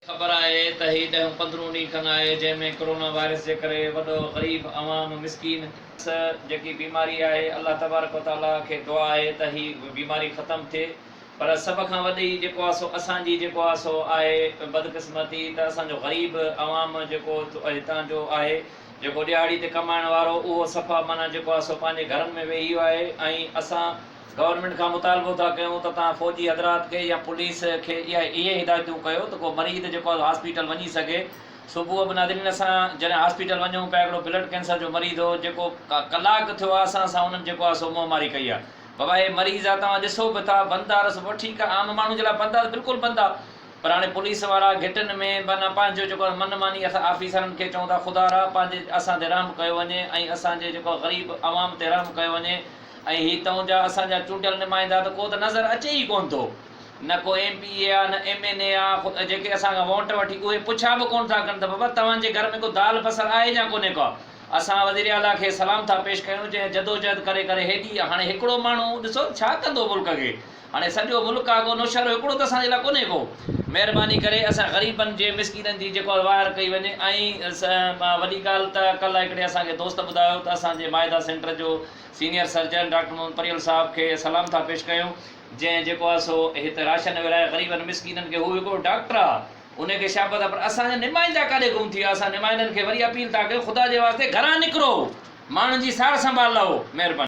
خبر آهي ته هي ڏهون پندرهون ڏينهن کن آهي جنهن ۾ ڪورونا وائرس جي ڪري وڏو غريب عوام مسڪين، س جيڪي بيماري آهي الله تبارڪ و تعاليٰ کي دعا آهي ته هي بيماري ختم ٿئي پر سڀ کان وڏي جيڪو آهي سو اسان جي جيڪو آهي سو آهي بدقسمتي ته اسان جو غريب عوام جيڪو هتان جو آهي جيڪو ڏهاڙي تي ڪمائڻ وارو اهو صفا معنيٰ جيڪو آهي سو پنهنجي گهرن ۾ ويهي ويو آهي ۽ اسان گورنمينٽ کان مطالبو ٿا ڪيون ته توهان فوجي حضرات کي يا پوليس کي اهي هدايتون ڪيو ته ڪو مريض جيڪو آهي هاسپيٽل وڃي سگهي صبح به ناظرين اسان جڏهن هاسپيٽل وڃون پيا هڪڙو بلڊ ڪينسر جو مريض هو جيڪو ڪلاڪ ٿيو آهي اسان سان انهن جيڪو آهي سو منهن ماري ڪئي آهي بابا هي مريض آهي توهان ڏسو به ٿا بند آهي رستو پر ٺيڪ آهي عام ماڻهو جي لاء بند آهي بلڪل بند آهي پر هاڻي پوليس وارا گهٽن ۾ معنيٰ پنهنجو جيڪو آهي من ماني اسان آفيسرن کي چئون ٿا خدارا پنهنجي اسان تي رحم ڪيو وڃي ۽ اسان جي جيڪو غريب عوام تي رحم ڪيو وڃي ۽ هي تون جا اسان جا چونڊيل نمائندا ته ڪو ته نظر اچي ئي ڪون ٿو. نه ڪو ايم پي اي آ نه ايم اين اي آ. خود جيڪي اسان کان وونٽ وٺي اهي پڇا به ڪون ٿا ڪن ته بابا توهان جي گهر ۾ ڪو دال بصر آهي جا ڪونهي ڪا. اسان وزير اعليٰ کي سلام ٿا پيش ڪيون جنهن جدوجهد ڪري ڪري هيڏي هاڻي هڪڙو ماڻهو ڏسو ته ڇا ڪندو ملڪ کي. هاڻي سڄو ملڪ آ ڪو نوشهرو هڪڙو ته اسان جي لاء ڪونهي ڪو مهرباني ڪري اسان غريبن جي مسڪينن جي جيڪو آ واهر ڪئي وڃي ۽ وڏي ڳالهه ته ڪلهه هڪڙي اسان کي دوست ٻڌايو ته اسان جي مائده سينٽر جو سينيئر سرجن ڊاڪٽر محمد پريل صاحب کي سلام ٿا پيش ڪيون جنهن جيڪو آ سو هت راشن ورهائي غريبن مسڪينن کي هو هڪڙو ڊاڪٽر آ انهي کي شابس آ پر اسان جا نمائندا ڪاڏي گم ٿي ويا اسان نمائندن کي وري اپيل ٿا ڪيون خدا جي واسطي گهران نڪرو ماڻهن جي سار سنڀال لهو مهرباني.